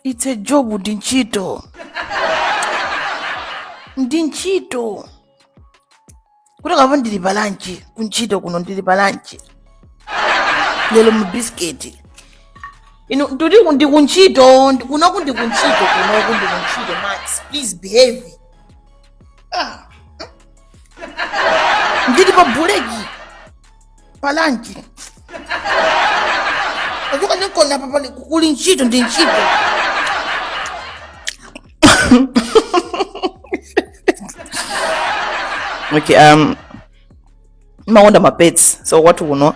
it's a job ndi ntchito ndi ntchito kuti kapa ndili pa lanchi kuntchito kuno ndili pa lanchi lero mu bisiketi inu ndikuti ku- ndi kuntchito ndi- kunoku ndi kuntchito kunoku ndi kuntchito max please behave Ah. ndili pa buleki pa lanchi tachoka ndinkona apa pali kuli ntchito ndi ntchito okay um ndimakonda mapets so kwathu kuno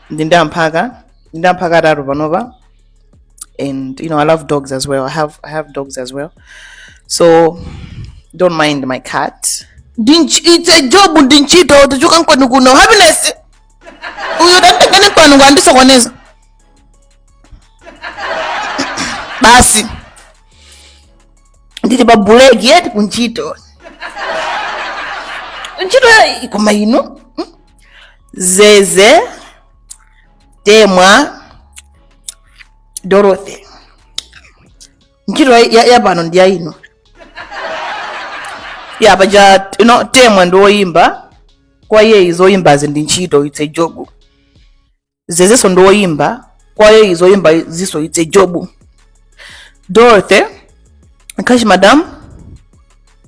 ndili ndi amphaka ndili ndi amphaka atatu panopa and you know i love dogs as well i have i have dogs as well so don't mind my cat Dinch, it's a job ndi ntchito tachoka nkwanu kuno happiness uyo tatengene nkwanu ukundisokoneza basi ndili pa buleki eti kuntchito ntchito ikoma ino mm, zeze temwa dorothy ntchito ya- ya pano ndi yaino ya paja you know, temwa ndi woyimba kwa iyeyo zoyimbazi ndi ntchito itse jobu zezenso ndi woyimba kwa iyeyo zoyimbazinso itse jobu dorothy kashi madam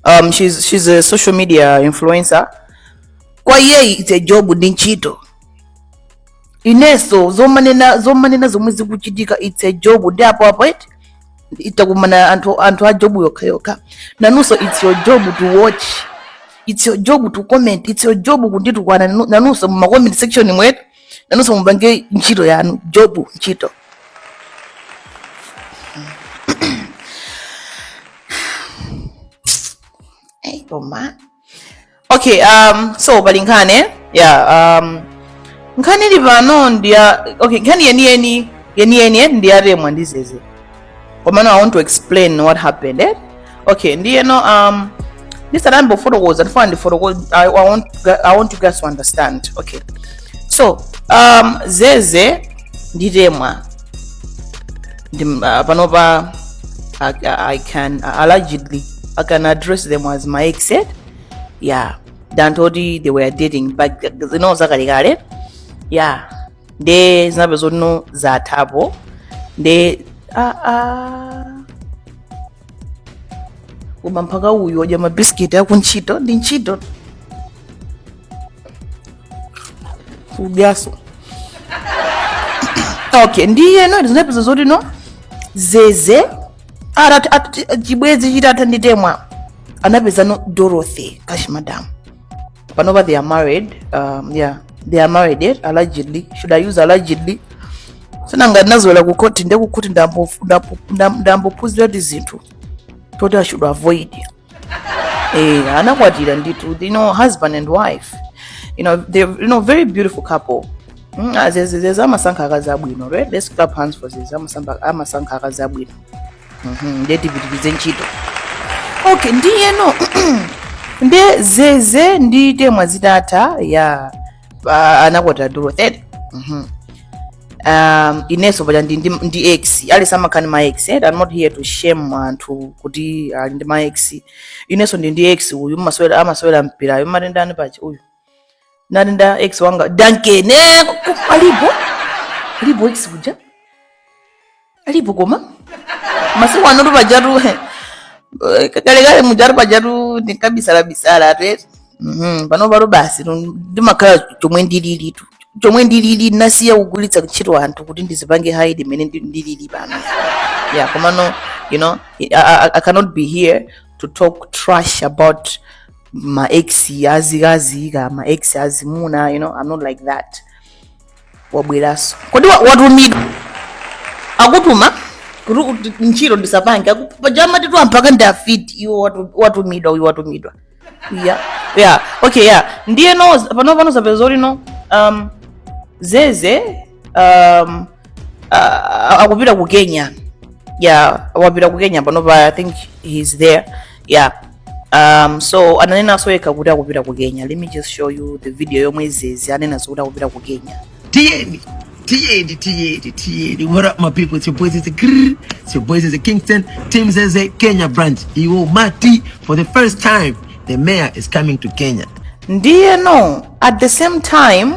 um, she's, she's a social media influencer kwa iyeyo itse jobu ndi ntchito inenso zomanena zomanena zomwe zikuchitika it's a job ndi apo apo eti takumana anthu anthu a job yokha yokha nanunso it's your job to watch it's your job to comment it's your job kunditukwana nanu- nanunso mu ma comment section mwemu nanunso mupange ntchito yanu job ntchito Hey, Oma. okay um so pali nkhani eh? yeah um nkhani ilipo ndiya okay nkhani yeniyeni yeniyeni eh, ndi ya temwa ndi zeze komano i want to explain what happened eh? okay ndiyeno um ndisanayambe kufotokoza ndifuna ndifotokoze I, I, want, i want you guys to understand okay so um zeze ndi temwa Ndim- ah, panopa I, I can ah, allegedly I can address them as my ex said yeah than told you they were dating back you know zakalekale yeah nde zinapeza kuti no zathapo nde ah, ah, koma mphaka uyu wadya mabisiketi aku ntchito ndi ntchito udyanso okay ndiye no zinapeza zoti no zeze atati atati- chibwenzi chitatha ndi temwa anapeza no dorothy kashi madamu panopa they are married um, yeah they are married yet allegedly should i use allegedly sinanga ndinazolowera kukhoti ndi kukhoti ndambophunzira kuti zinthu toti i should avoid eh anakwatira ndithu you know husband and wife you know they you know very beautiful couple Mm, ah, zeze- zeze amasankha akazi abwino right let's clap hands for zeze Amasamba- amasankha akazi abwino Mhm, ndiye tipitirize ntchito okay ndiyeno nde zeze ndi temwa zitatha ya pa- anakwatira dorothy Mhm. um, inenso paja ndi, ndi, ndi ex alisa nkhani ma ex eh? I'm not here to shame anthu kuti ali ndi ma ex inenso ndi ndi ex uyu amasewera amasewera mpirayu amatenda ndani paja uyu nani ndi ex wanga dankene alipo alipo ex kuja alipo koma masiku ano tu pajatu kalekale mujatu pajatu ndinkabisala bisala tu eti Mhm, pano pano basi tu- ndimakhala chomwe ndilili tu chomwe ndilili nasiya kugwiritsa ntchito anthu kuti ndizipange hide mmene ndi- ndilili pano yeah komano you know I, I, i cannot be here to talk trash about ma ex azikazi kaya ma ex azimuna you know i'm not like that wabweraso kodi wa- watumidwa akutuma kuti ut- ntchito ndisapange Aku- paja amati tu amphaka ndi afiti iwo watu- watumidwa uyu watumidwa yeah yeah okay yeah ndiyeno pano pano zapeza kuti no um zeze um, uh, akupita ku kenya yeah wapita ku kenya panopa i think he's there yeah um, so ananenanso yekha kuti akupita ku kenya let me just show you the video yomwe zeze ananenanso kuti akupita ku kenya tiyeni tiyeni tiyeni tiyeni what up my people it's your boy zeze grrr, it's your boy zeze kingston team zeze kenya branch iwo amati for the first time the mayor is coming to kenya ndiyeno at the same time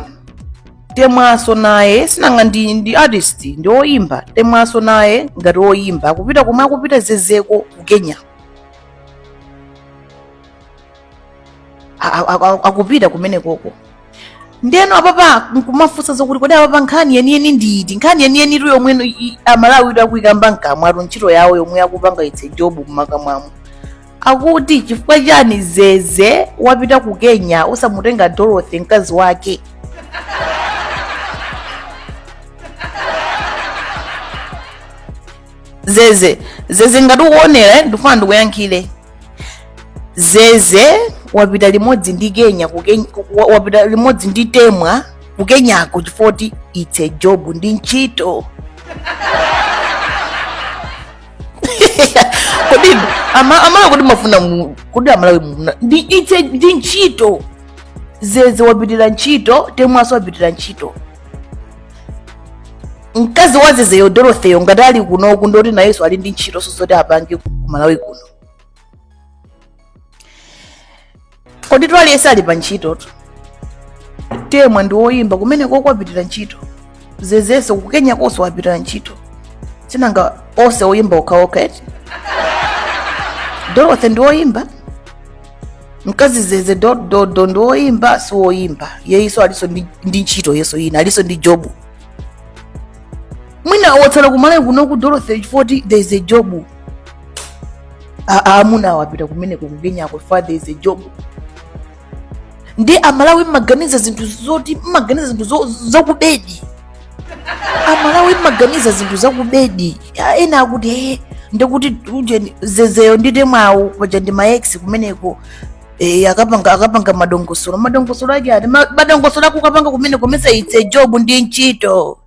temwaso naye sinanga ndi ndi artist ndi oyimba temwaso naye ngati oyimba akupita komwe akupita zezeko ku kenya A- a- a- akupita kumene koko ndeno apapa nkumafunsa zokuti kodi apapa nkhani yeniyeni ndi iti nkhani yeniyeni tu yomwe no- i- amalawi tu akuyikamba mkamwa tu ntchito yawo yomwe akupanga it's a job mmakamwamo akuti chifukwa chani zeze wapita ku kenya osamutenga dorothy mkazi wake zeze zeze ngati ukuonera eh, ndifuna ndikuyankhire zeze wapita limodzi ndi kenya ku Kenya- ku- wa- wapita limodzi ndi temwa ku kenyako chifukwa kuti its a job ndi ntchito kodi ama- amalawi kodi mumafuna mu- kodi amalawi muna- ndi it's ndi ntchito zeze wapitira ntchito temwanso wapitira ntchito mkazi wa zezeyo dorothyyo ngati ali kuno kungoti nayenso ali ndi ntchito nsosoti apange ku malawi kuno kodi poti aliyese ali pa ntchitotu temwa ndi woyimba kumenekoko wapitira ntchito zezenso kukenyakonso wapitira ntchito sinanga onse oyimba okhaokha eti dorothy ndi woyimba mkazi wa zeze dododo ndi woyimba si woyimba iyeyoso aliso ndi ndi ntchito iyeso ina aliso ndi job mwina watsala kumalawi kunoku dorothy chifoti it's a job amunawo apita kumeneko kukenyako chifa it's a job ndi amalawi mmaganiza zinthu zoti mmaganiza zinthu zo- zakubedi amalawi mmaganiza zinthu zakubedi Ya, ena akuti ee ndikuti ujeni zezeyo ndi temwawo paja ndi ma-ex kumeneko eh, akapanga akapanga madongosolo madongosolo ake ati "Ma- madongosolo akukapanga kumeneko mesa it's a job ndi ntchito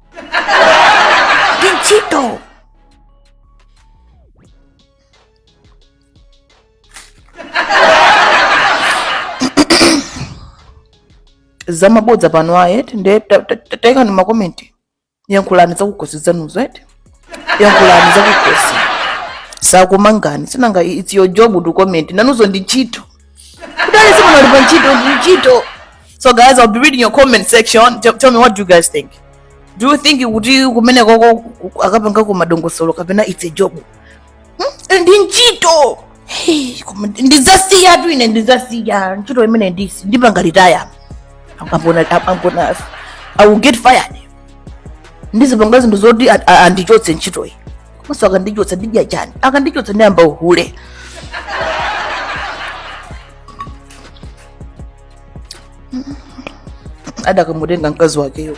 ndi ntchito zamabodza pano ayi eti nde ta- ta- ta- taikani makomenti yankhulani zakukhosi kwanuzo eti yankhulani zakukhosi sakumangani sinanga it's your job to comment nanunso ndi ntchito kodi si munali pa ntchito ndi ntchito so guys i'll be reading your comment section tell, tell me what do you guys think do you think kuti kumenekoko akapangako madongosolo kapena it's a job hmm? ndi ntchito Hey, koma ndizasiyatu ine ndizasiya ntchito imene ndisi ndipanga retire I'm, I'm gonna, I'm, I'm gonna, I will get fired ndizipanga zinthu zoti a- a- andichotse ntchitoyi komanso akandichotsa ndidya chani akandichotsa ndiyamba uhule adakamutenga mkazi wakeyo